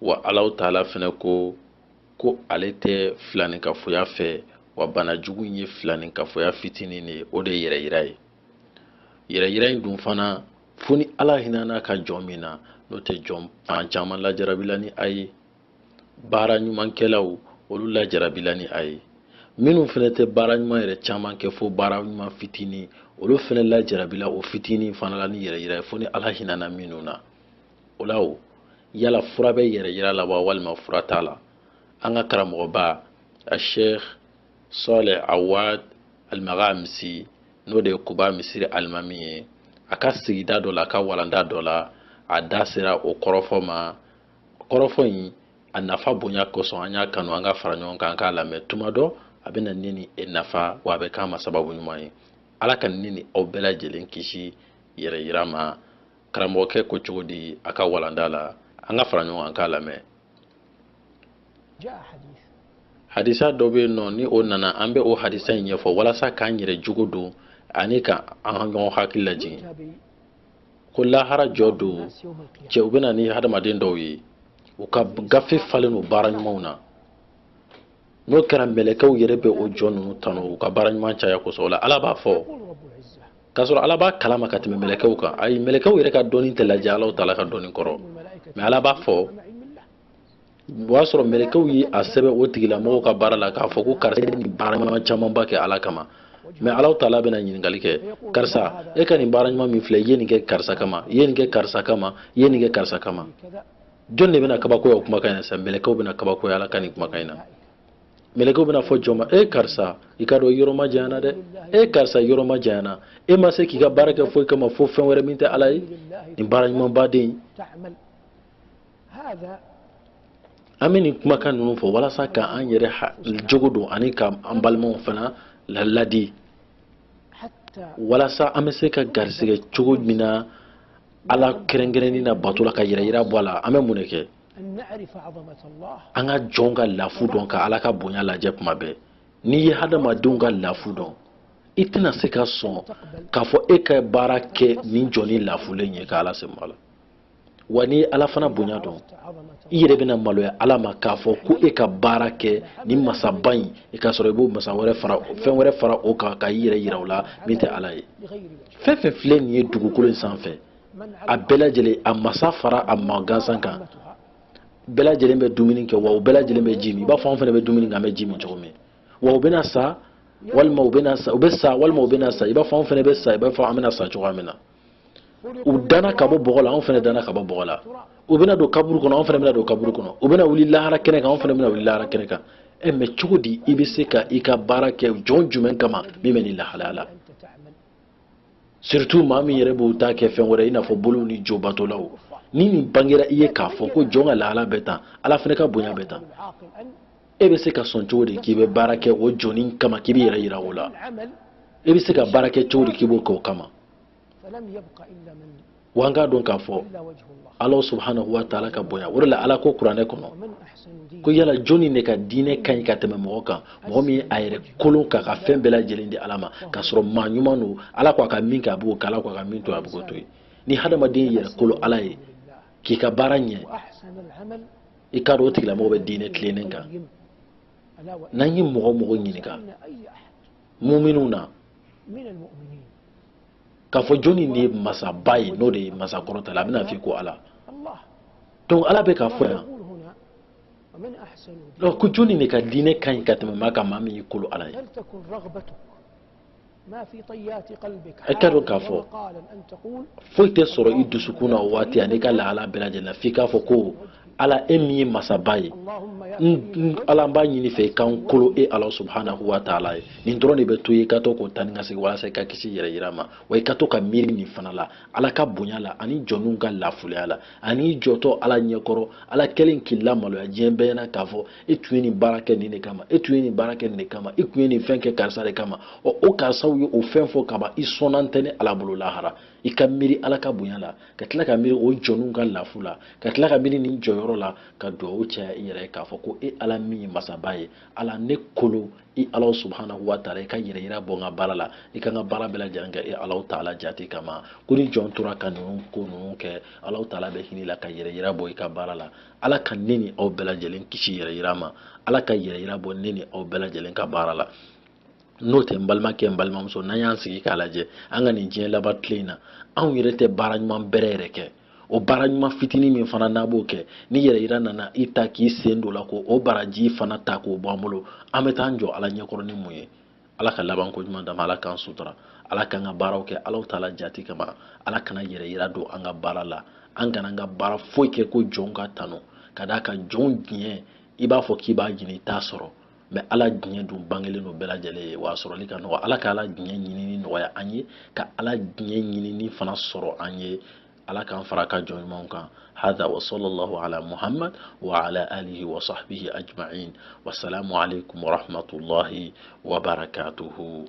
wa alahu taala fɛnɛ ko ko ale tɛ filanikafoya fɛ wa bana jugu in ye filanikafoya fitinin de ye o de ye yɛrɛyira ye yɛrɛyira in dun fana fo ni ala hinɛna a ka jɔn min na n'o tɛ jɔn fan caman lajarabila ni a ye baara ɲumankɛlaw olu lajarabila ni a ye minnu fana tɛ baara ɲuman yɛrɛ caman kɛ fo baara ɲuman fitinin olu fana lajarabila o fitinin fana la ni yɛrɛyira ye fo ni ala hinɛna minnu na o la o yala fura bɛ yɛrɛyira la wa walima fura t'a la an ka karamɔgɔba a sheikh saleh awad al-maghamisi n'o de ye kuba misiri alimami ye a ka sigida dɔ la a ka walanda dɔ la a da sera o kɔrɔfɔ ma kɔrɔfɔ in a nafa bonya kosɔn an y'a kanu an ka fara ɲɔgɔn kan an k'a lamɛn tuma dɔ a bɛna ne ni e nafa wa a bɛ k'an ma sababu ɲuman ye ala ka ne ni aw bɛɛ lajɛlen kisi yɛrɛyira ma karamɔgɔkɛ ko cogo di a ka walanda la an ka fara ɲɔgɔn kan an k'a lamɛn hadisa dɔ bɛ yen nɔ ni o nana an bɛ o hadisa in ɲɛfɔ walasa k'an yɛrɛ jogo don ani ka an ɲɔgɔn hakili lajigin ko lahara jɔ don cɛ u bɛ na ni hadamaden dɔw ye u ka gafe falen don baara ɲumanw na n'o kɛra mɛlɛkɛw yɛrɛ bɛ o jɔn ninnu tanu u ka baara ɲuman caya kosɔn o la ala b'a fɔ k'a sɔrɔ ala b'a kalama ka tɛmɛ mɛlɛkɛw kan ayi mɛlɛkɛw yɛrɛ ka dɔnni tɛ lajɛ alahu taala ka dɔnni kɔrɔ mais ala b'a fɔ o y'a sɔrɔ mɛlɛkɛw ye a sɛbɛn o tigilamɔgɔw ka baara la k'a fɔ ko karisa ye nin baara ɲuman camanba kɛ ala kama mais alahu taala bɛna ɲininkali kɛ karisa e ka nin baara ɲuman min filɛ i ye nin kɛ karisa kama i ye nin kɛ karisa kama i ye nin kɛ karisa kama jɔn de bɛna kabakoya o kumakan in na sisan mɛlɛkɛw bɛna kabakoya ala ka nin kumakan in na mɛlɛkɛw bɛna fɔ jɔn ma e karisa i ka dɔn yɔrɔ ma janyana dɛ e karisa yɔrɔ ma janyana e ma se k'i ka baara kɛ foyi kama fo fɛn wɛrɛ min tɛ ala ye nin baara ɲumanba den an bɛ nin kumakan ninnu fɔ walasa k'an yɛrɛ jogo don ani k'an balimaw fana ladi walasa an bɛ se ka garisɛgɛ cogo min na ala kɛrɛnkɛrɛnni na bato la ka yɛrɛyira bɔ a la an bɛ mun de kɛ an ka jɔnw ka lafu dɔn ka ala ka bonya lajɛ kuma bɛɛ n'i ye hadamadenw ka lafu dɔn i tɛna se ka sɔn k'a fɔ e ka baara kɛ nin jɔnnin lafulen ye ka ala se ma la wa n'i ye ala fana bonya dɔn i yɛrɛ bɛna maloya ala ma k'a fɔ ko e ka baara kɛ nin masaba in i k'a sɔrɔ i b'o masa wɛrɛ fara fɛn wɛrɛ fara o kan ka i yɛrɛ yira o la min tɛ ala ye fɛn fɛn filɛ nin ye dugukolo in sanfɛ a bɛɛ lajɛlen a masa fara a maa gansan kan bɛɛ lajɛlen bɛ dumuni kɛ wa u bɛɛ lajɛlen bɛ ji min i b'a fɔ anw fana bɛ dumuni kɛ an bɛ ji min cogo min wa u bɛna sa walima u bɛna sa u bɛ sa walima u bɛna sa i b'a fɔ anw fana bɛ sa i b'a fɔ an bɛna sa cogoya min na u danna ka bɔ bɔgɔ la anw fana danna ka bɔ bɔgɔ la u bɛna don kaburu kɔnɔ anw fana bɛna don kaburu kɔnɔ u bɛna wuli lahara kɛnɛ kan anw fana bɛna wuli lahara kɛnɛ kan ɛ mais cogo di i bɛ se ka i ka baara kɛ jɔn jumɛn kama min bɛ nin lahalaya la surtout maa min yɛrɛ b'o ta kɛ fɛn wɛrɛ i n'a fɔ boliw ni jobatolaw ni nin bangera i ye k'a fɔ ko jɔn ka lahala bɛ tan ala fana ka bonya bɛ tan e bɛ se ka sɔn cogo di k'i bɛ baara kɛ o jɔnnin kama k'i b'i yɛrɛ yira o la e bɛ se ka baara kɛ cogo di k'i b'o kɛ o kama wa an k'a dɔn k'a fɔ ala subhanahu wa taala ka bonya o de la ala ko kuranɛ kɔnɔ ko yala jɔnni de ka diinɛ ka ɲi ka tɛmɛ mɔgɔ kan mɔgɔ min ye a yɛrɛ kolo k'a ka fɛn bɛɛ lajɛlen di ala ma k'a sɔrɔ maa ɲuman don ala ko a ka min kɛ a b'o kɛ ala ko a ka min to a b'o to yen ni hadamaden y'i yɛrɛ kolo ala ye k'i ka baara ɲɛ i k'a dɔn o tigilamɔgɔ bɛ diinɛ tilennen kan n'an ye mɔgɔ mɔgɔ ɲininka muminw na k'a fɔ jɔnni de ye masaba ye n'o de ye masa kɔrɔta la a bɛna f'i ko ala donc ala bɛ k'a fɔ yan donc ko jɔnni de ka diinɛ ka ɲi ka tɛmɛ maa kan maa min y'i kolo ala ye i k'a dɔn k'a fɔ foyi tɛ sɔrɔ i dusukun na o waati ani i ka lahala bɛɛ lajɛlen na f'i k'a fɔ ko ala e min ye masaba ye ala n b'a ɲini i fɛ i ka n kolo e ala subhanahu wa taala ye nin dɔrɔn de bɛ to yen i ka to k'o tani ka segin walasa i ka kisi yɛrɛ yira ma wa i ka to ka miiri nin fana la ala ka bonya la ani jɔnninw ka lafulenya la ani i jɔtɔ ala ɲɛkɔrɔ ala kɛlen k'i lamaloya diɲɛ bɛɛ ɲɛna k'a fɔ e tun ye nin baara kɛ nin de kama e tun ye nin baara kɛ nin de kama e tun ye nin fɛn kɛ karisa de kama ɔ o karisaw ye o fɛn fɔ kaban i sɔnna tɛ ne ala bolo lahara i ka miiri ala ka bonya la ka tila ka miiri o jɔnw ka lafu la ka tila ka miiri nin jɔyɔrɔ la ka dugawu caya i yɛrɛ ye k'a fɔ ko e ala min ye masaba ye ala ne kolo i ala subhanahu wa taala i ka yɛrɛ yira bɔ n ka baara la i ka n ka baara bɛɛ lajɛlen kɛ e ala taala jate kama ko ni jɔn tora ka ninnu ko ninnu kɛ ala taala bɛ hinɛ i la ka yɛrɛ yira bɔ i ka baara la ala ka ne ni aw bɛɛ lajɛlen kisi yɛrɛ yira ma ala ka yɛrɛ yira bɔ ne ni aw bɛɛ lajɛlen ka baara la n'o tɛ n balimakɛ n balimamuso n'an y'an sigi k'a lajɛ an ka nin diɲɛ laban tile in na anw yɛrɛ tɛ baara ɲuman bɛrɛ yɛrɛ kɛ o baara ɲuman fitinin min fana n'an b'o kɛ ni yɛrɛ yira nana i ta k'i sen don a la k'o baraji fana ta k'o bɔ an bolo an bɛ taa an jɔ ala ɲɛkɔrɔ ni mun ye ala ka laban ko ɲuman d'an ma ala k'an sutura ala k'an ka baaraw kɛ ala taala jate kama ala kana yɛrɛ yira don an ka baara la an kana an ka baara foyi kɛ ko jɔnw k'an tanu ka d'a kan jɔnw diɲɛ i b'a fɔ k'i b'a ɲini i t'a sɔrɔ mais ala diɲɛ dun bangelen don bɛɛ lajɛlen ye wa a sɔrɔli ka nɔgɔ ala ka ala diɲɛ ɲinini nɔgɔya an ye ka ala diɲɛ ɲinini fana sɔrɔ an ye ala k'an fara a ka jɔn ɲumanw kan hada wa sallallahu ala muhammad wa ala alihi wa sahbihi ajma'in wasalamu alaikum wa rahmatullahi wa barakatuhu